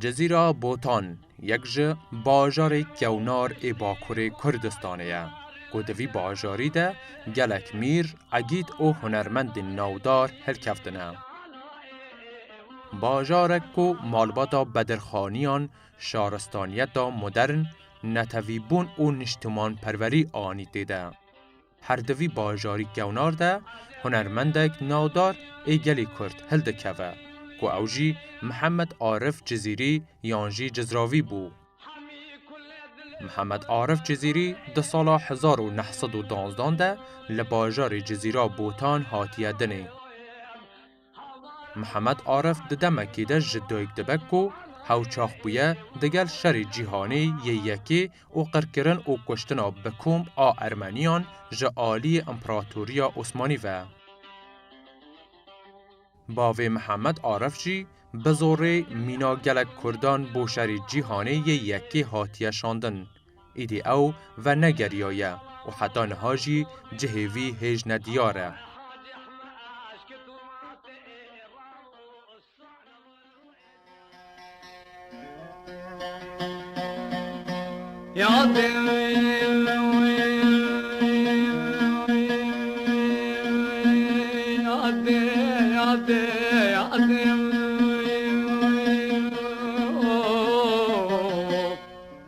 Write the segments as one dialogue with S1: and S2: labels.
S1: Cizîra Botan yek ji bajarê kewnar ê Bakurê Kurdistanê ye ku di vî bajarî de gelek mîr, egîd û hunermendên navdar hilkeftine. Bajarek ku malbata bedirxaniyan, şaristaniyeta modern, netewîbûn û niştimanperwerî anî tê de. Her di vî bajarî kewnar de hunermendek navdar ê gelê Kurd hildikeve ku ew jî Mihemed Arif Cizîrî yan jî Cizravî bû. Mihemed Arif Cizîrî di sala hezar û neh sed û danzdan de li bajarê Cizîra Botan hatiye dinê. Mihemed Arif di demekê de ji dayik dibe ku hewçax bûye digel şerê cîhanê yê yekê û qirkirin û kuştina bi komb a Ermeniyan ji aliyê Împeratoriya Osmanî ve. Bavê Mihemed Arif jî bi zorê mîna gelek kurdan bo şerê cîhanê yê yekê hatiye şandin. Îdî ew vernegeriyaye û heta niha jî cihê vî hêj ne diyar e.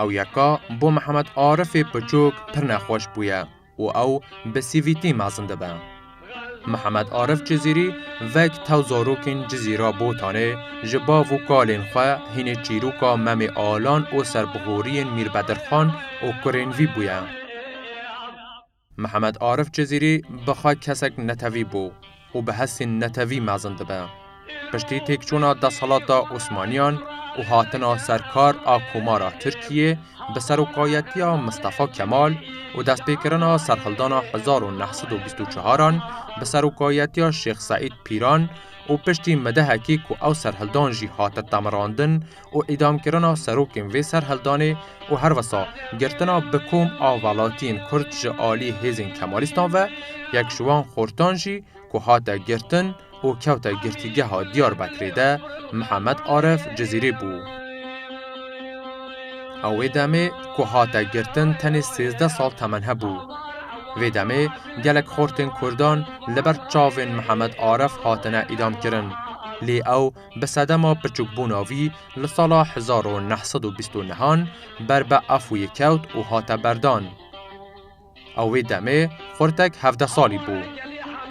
S1: Ew yeka bo Mihemed Arifê piçûk pir nexweş bûye û ew bi sîvîtî mezin dibe. Mihemed Arif Cizîrî vek tew zarokên Cizîra Botanê ji bav û kalên xwe hînê çîroka Memê Alan û serbihoriyên Mîr Bedirxan û kurên vî bûye. Mihemed Arif Cizîrî bi xwe kesek netewî bû û bi hestên netewî mezin dibe. Piştî têkçûna desthilata Osmaniyan û hatina ser kar a Komara Tirkiyê bi serokayetiya Mistefa Kemal û destpêkirina serhildana hezar û neh sed û bîst û çar an bi serokayetiya Şêx Seîd Pîran û piştî midehekî ku ew serhildan jî hate temirandin û îdamkirina serokên vê serhildanê û her wisa girtina bi kom a welatiyên Kurd ji aliyê hêzên Kemalîstan ve yek ji wan xortan jî ku hate girtin û kewte girtîgeha Diyarbekirê de Mihemed Arif Cizîrî bû. Ew wê demê ku hate girtin tenê sêzdeh sal temen hebû. Vê demê gelek xortên Kurdan li ber çavên Mihemed Arif hatine îdamkirin lê ew Bi sedema pirçûkbûna vî li sala hezar û neh sed û bîst û nehan ber bi Efûyê kewt û hate berdan. Ew wê demê xurtek hevdeh salî bû.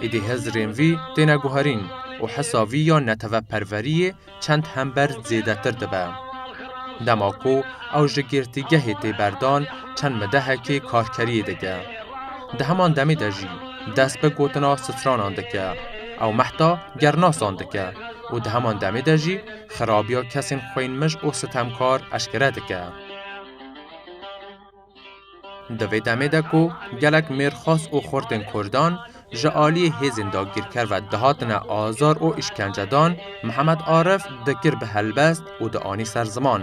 S1: Êdî hizirên vî têne guherîn û hisa vî ya neteveperweriyê çend hember zêdetir dibe. Dema ku ew ji girtîgehê tê berdan çend midehekê karkeriyê dike. Di heman demê de jî dest bi gotina stranan dike. Ew mehta gernasan dike û di heman demê de jî xirabiya kesên xwênmij û sitemkar eşkere dike. Di vê demê de ku gelek mêrxas û xurtên Kurdan ji aliyê hêzên dagirker ve dihatine azar û îşkencedan, Mihemed Arif dikir bi helbest û dianî ser ziman.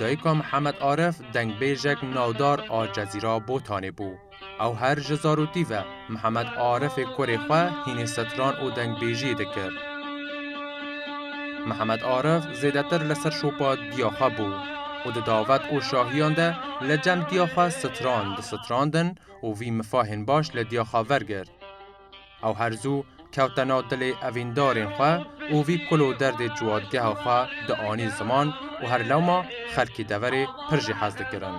S1: Dayika Mihemed Aref dengbêjek navdar a Cezîra Botanê bû. Ew her ji zarokî ve Mihemed Arefê kurê xwe hînê setran û dengbêjiyê dikir. Mihemed Aref zêdetir li ser şopa diya xwe bû û di davet û şahiyan de li cem diya xwe stran disitrandin û vî mifahên baş li diya xwe vergirt. Ew her zû kewte nav dilê evîndarên xwe û vî kul û derdê ciwadgeha xwe dianî ziman û her lewma xelkê deverê pir jî hez dikirin.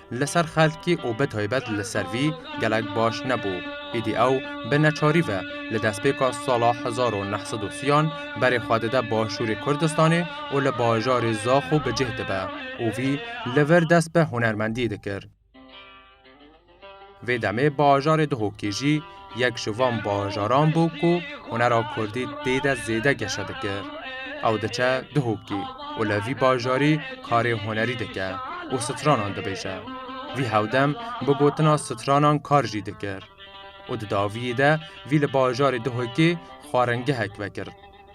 S1: Li ser xelkî û bi taybet li ser vî gelek baş nebû. Êdî ew bi neçarî ve li destpêka sala hezar û neh sed û sîyan berê xwe dide başûrê Kurdistanê û li bajarê Zaxû bi cih dibe û vî li vir dest bi hunermendiyê dikir. Vê demê bajarê Dihokê jî yek ji van bajaran bû ku hunera kurdî tê de zêde geşe dikir. Ew diçe Dihokê û li vî bajarî karê hunerî dike û stranan dibêje. Vî hewdem bi gotina stranan kar jî dikir. Û di daviyê de vî li bajarê Dihokê xwarengehek vekir.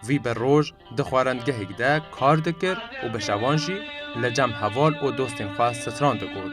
S1: Vî bi roj di xwarendgehêk de kar dikir û bi şevan jî li cem heval û dostên xwe stran digot.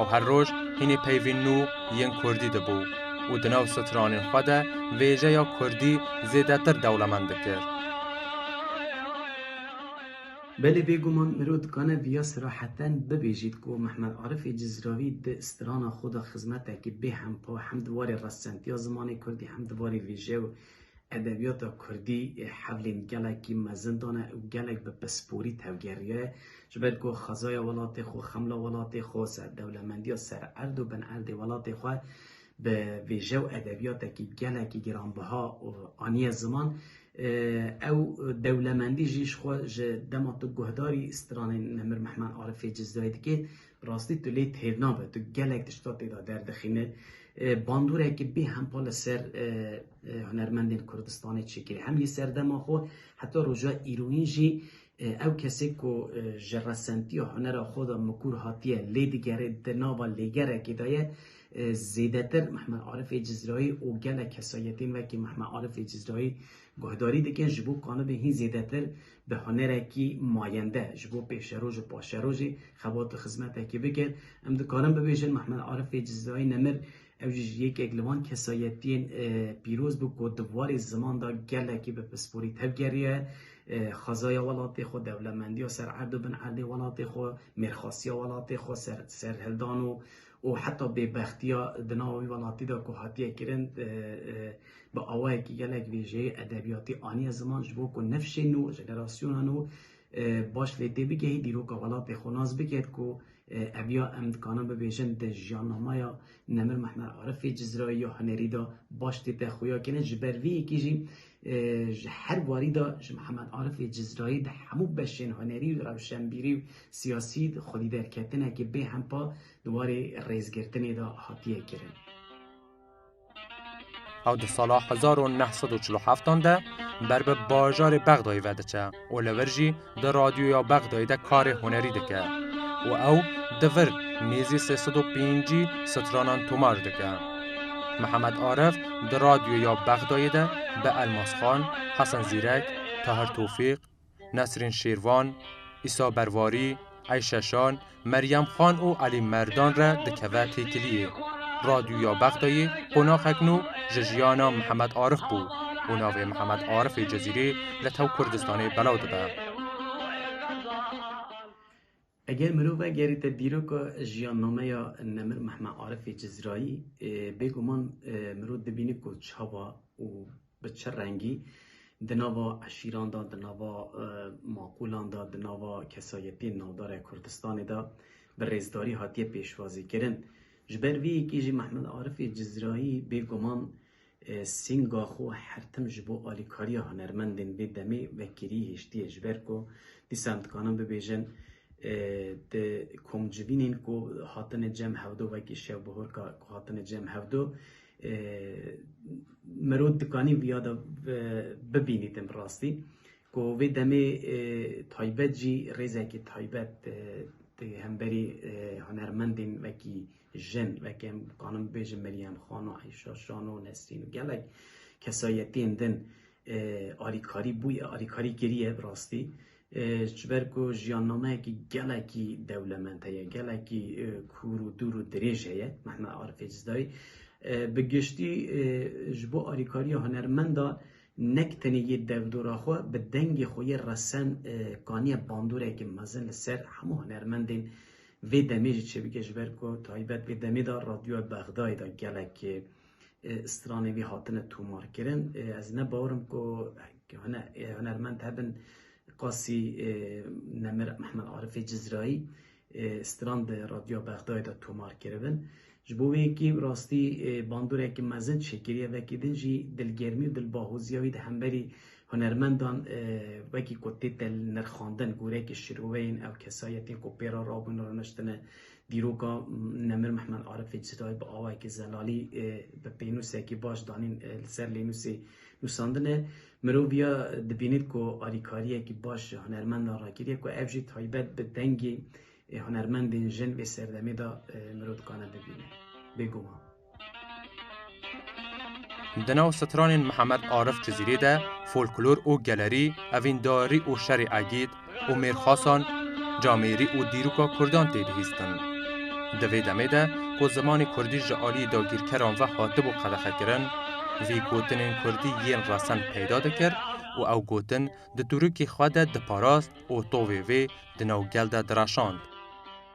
S1: Ew her roj hînî peyvên nû yên kurdî dibû û di nav stranên xwe de vêjeya kurdî zêdetir dewlemend dikir. Belê bêguman mirov dikane viya seraheten bibêjît ku Mehmet Arifê Cizravî di strana xwe de xizmetekî bêhempa hem di warê restcentiya zimanê kurdî hem di warê vêjeya Edebiyata Kurdî ê hevlên gelekî mezin dane û gelek bi pisporî tevgeriye. Ji ber ku xezaya welatê xwe, xemla welatê xwe, serdewlemendiya sererd û binerdê welatê xwe bi vêje û edebiyatekî gelekî giranbiha aniye ziman, ew dewlemendî jî ji xwe ji dema tu guhdarî stranên Nemir Mehman Arifê Cizirê dikê, Rastî tu lê têr nabe, tu gelek tişta tê de derdixîne. Bandoreke bê hempa li ser hunermendên Kurdistanê çêkirî. Hem yê serdema xwe heta roja îrûnî jî ew kesê ku ji resentiya hunera xwe de mikur hatiye lê digere di nava lêgerekê de ye zêdetir Mehmet Arifê Cizrayî û gelek kesayetên wekî Mehmet Arifê Cizrayî Guhdarî dike ji bo kanibê hîn zêdetir bi hunerekî mayende ji bo pêşeroj û paşerojê xebat û xizmetekî bike. Em dikarin bibêjin Mehmed Arifê Cizirayî Nemir ew jî ji yekek li van kesayetiyên pîroz bû ku di warê ziman de gelekî bi pisporî tevgeriye xezaya welatê xwe, dewlemendiya ser erd û bin erdê welatê xwe, mêrxasiya welatê xwe, serhildan û û heta bêbextiya di nava wî welatî de ku hatiye kirin bi awayekî gelek vêjeyê edebiyatî aniye ziman ji bo ku nifşên nû, jenerasiyona nû baş lê tê bigehî, dîroka welatê xwe nas biket ku eviya em dikarin bibêjin di jiyanamaya Nemir Mehmet Arifê Cizrayî ya hunerî de baş tê te xuya kirin. Ji ber vê yekê jî Ji her warî de ji Mihemed Arifê Cizrayî di hemû beşên hunerî û rewşenbîrî û siyasî de xwedîderketinekê bê hempa di warê rêzgirtinê de hatiye kirin. Ew di sala hezar û neh sed û çil û heftan de ber bi bajarê Bexdayê ve diçe. Oliver jî di radyoya Bexdayê de karê hunerî dike û ew di vir mêzê sê sed û pêncî stranan tomar dike. Mihemed Arif di radyoya Bexdayê de bi Elmas Xan, Hesen Zîrek, Tahir Tofîq, Nesrîn Şêrvan, Îsa Bervarî, Eyşe Şan, Meryem Xan û Elî Merdan re dikeve têkiliyê. Radyoya Bexdayê qonaxek nû ji jiyana Mihemed Arif bû û navê Mihemed Arifê Cezîrê li tev Kurdistanê belav dibe. Eger mirove gerîte dîroka jiyannameya nemir Mihemed Arifê Cizrayî, bêguman mirov dibîne ku çawa û Bi çi rengî di nava eşîran de, di nava maqûlan de, di nava kesayetiyên navdarê Kurdistanê de bi rêzdarî hatiye pêşwazîkirin. Ji ber vê yekê jî Mehmet Arifê Cizrayî bêguman sînga xwe her tim ji bo alîkariya hunermendên vê demê vekirî hiştiye. Ji ber ku dîsa em dikarin bibêjin di komcivînên ku hatine cem hevdo wekî şevbihorka ku hatine cem hevdo Mirov dikanî viya de bibînî tim bi rastî ku vê demê taybet jî rêzekî taybet di hemberî hunermendên wekî jin wekî em dikanim bibêjim Meryem Xana, Eyşa Şano, Nesrîn û gelek kesayetiyên din alîkarî bûye alîkarî kiriye bi rastî Ji ber ku jiyannameyekî gelekî dewlemend heye, gelekî kûr û dûr û dirêj heye Mehmet Arifê Cizayî. Bi giştî ji bo alîkariya hunermendan nek tenê yê dewdora xwe bi dengê xwe yê resen kaniye bandoreke mezin li ser hemû hunermendên vê demê jî çêbike ji ber ku taybet vê demê de radyoya Bexdayê de gelek stranê wî hatine tomarkirin. Ez ne bawerim ku hunermend hebin qasî Nemir Mehmed Arifê Cizrayî stran di Radyoya Bexdayê de tomar kiribin. Ji bo wê yekî rastî bandoreke mezin şekeriye vekî din jî dilgermî û dilbahoziya wî di hemberî hunermendan wekî ku tê te nirxandin goreyeke şîroveyên ew kesayetên ku pê re rabûn rûniştine Dîroka Nemir Mehmed Arifê Citayî bi awayekî zelalî bi pênûsekî baş danîn li ser lênûsê nûsandine. Mirov ya dibînît ku alîkariyekî baş ji hunermendan rakiriye ku ev jî taybet bi dengê hunermendên jin vê serdemê de mirov dikane bibîne. Bêguman. Di nav stranên Mihemed Arif Cizîrî de folklor û gelerî, evîndarî û şerê Egîd, Omêr Xasan, camêrî û dîroka kurdan tê bihîstin. Di vê demê de ku zimanê kurdî ji aliyê dagîrkeran ve hatibû qedexekirin, vî gotinên kurdî yên resen peyda dikir û ew gotin di tûrikê xwe de diparast û tovê vê di nav gel de direşand.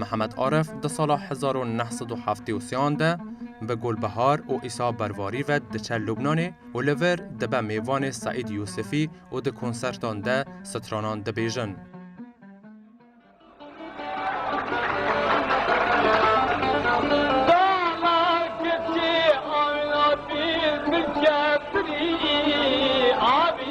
S1: Mihemed Aref di sala hezar û neh sed û heftê û sê an de bi Gulbihar û Îsa Bervarî ve diçe Lubnanê û li vir dibe mêvanê Seîd Yûsifî û di konsertan de stranan dibêjin.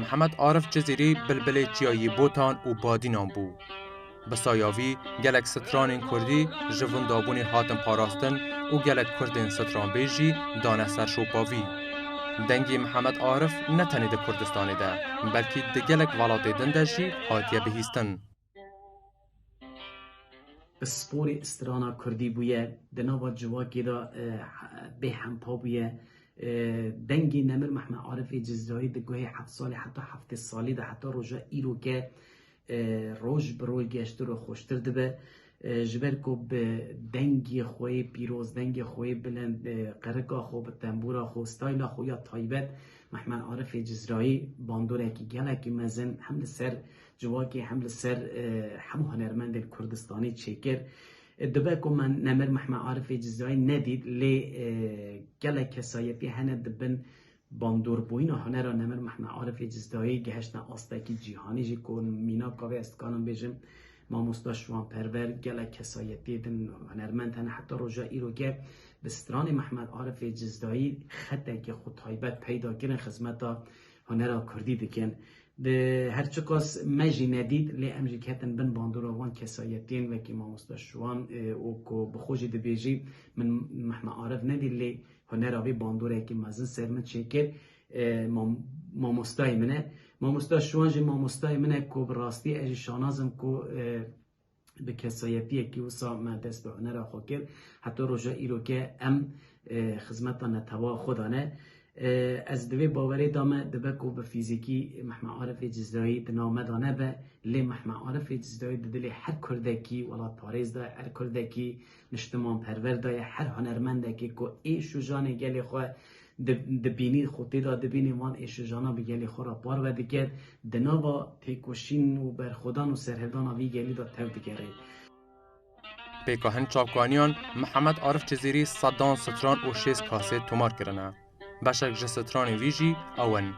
S1: Mihemed Arif Cizîrî bilbilê çiya yî botan û badînan bû. Bi saya vî gelek stranên kurdî ji vindabûnê hatin parastin û gelek kurdên stranbêj jî dane ser şopa vî. Dengê Mihemed Arif ne tenê di Kurdistanê de, belkî di gelek welatê din de jî hatiye bihîstin. Sporê strana kurdî bûye di nava civakê de bê hempa bûye. Dengê Nemir Mehmed Arifê Cizrayî di guhê heft salî heta heftê salî de heta roja îro ke roj bi roj geştir û xweştir dibe. Ji ber ku bi dengê xwe yê pîroz, dengê xwe yê bilind, bi qirika xwe, bi tembûra xwe û stayla xwe ya taybet Mehmed Arifê Cizrayî bandorekî gelekî mezin hem li ser Civakê hem li ser hemû hunermendên Kurdistanî çêkir. Dibe ku me Nemir Mehmed Arifê Cizayî nedît lê gelek kesayetî hene di bin bandorîbûyîna hunera Nemir Mehmed Arifê Cizayî gihiştine astekî cîhanî jî ku mînaka wê ez dikarim bêjim Mamosta Şiwanperver gelek kesayetî din hunermend hene heta roja îroke bi stranê Mehmed Arifê Cizayî xetekî xwe taybet peyda kirin xizmeta hunera kurdî dikin. Di her çiqas me jî nedît lê em jî ketin bin bandora wan kesayetiyên wekî mamosta Şiwan û ku bi xwe jî dibêjî min Mehmet Arif nedît lê hunera wî bandorekî mezin ser min çêkir. Mamostayê min e. Mamosta Şiwan jî mamostayê min e ku bi rastî ez jî şanazim ku bi kesayetiyekî wisa me dest bi hunera xwe kir heta roja îro ke em e, xizmeta netewa xwe dane. E, ez bi vê bawerê de me dibe ku bi fîzîkî Mehme Arifê Cizrayî di nav me de nebe, lê Mehme Arifê Cizrayî di dilê her Kurdekî welatparêz de, her Kurdekî niştimanperver de ye, her hunermendekî ku ê şûjanê gelê xwe Di bînî xwe tê de dibînê van êşijanan bi gelê xwe re parve dike, di nava têkoşîn û berxwedan û serhildana vî gelî de tev digere. Pêka hin çavkaniyan Mihemed Arif Cizîrî sedan stran û şêst kasê tomar kirine. Beşek ji stranên wî jî ew in.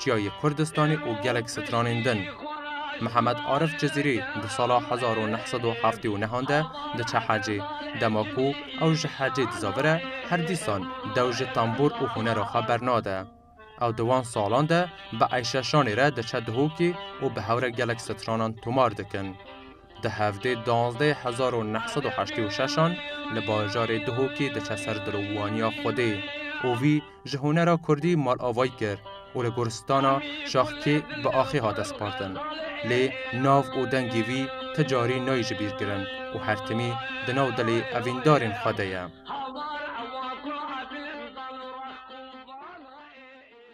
S1: çiyayê Kurdistanê û gelek stranên din. Mihemed Arif Cizîrî di sala hezar û neh sed û heftê û nehan de diçe hecê. Dema ku ew ji hecê dizavire her dîsan dew ji tembûr û hunera xwe bernade. Ew di wan salan de bi eyşeşanê re diçe dihokê û bi hew re gelek stranan tomar dikin. Di hevdê duwazdeh hezar û neh sed û heştê û şeş an li bajarê Duhokê diçe ser dilovaniya Xwedê û vî ji hunera Kurdî malavayî kir û li goristana Şaxkê bi axê hate spartin. Lê nav û dengê vî ti carî nayê ji bîr kirin û her timî di nav dilê evîndarên xwe de ye.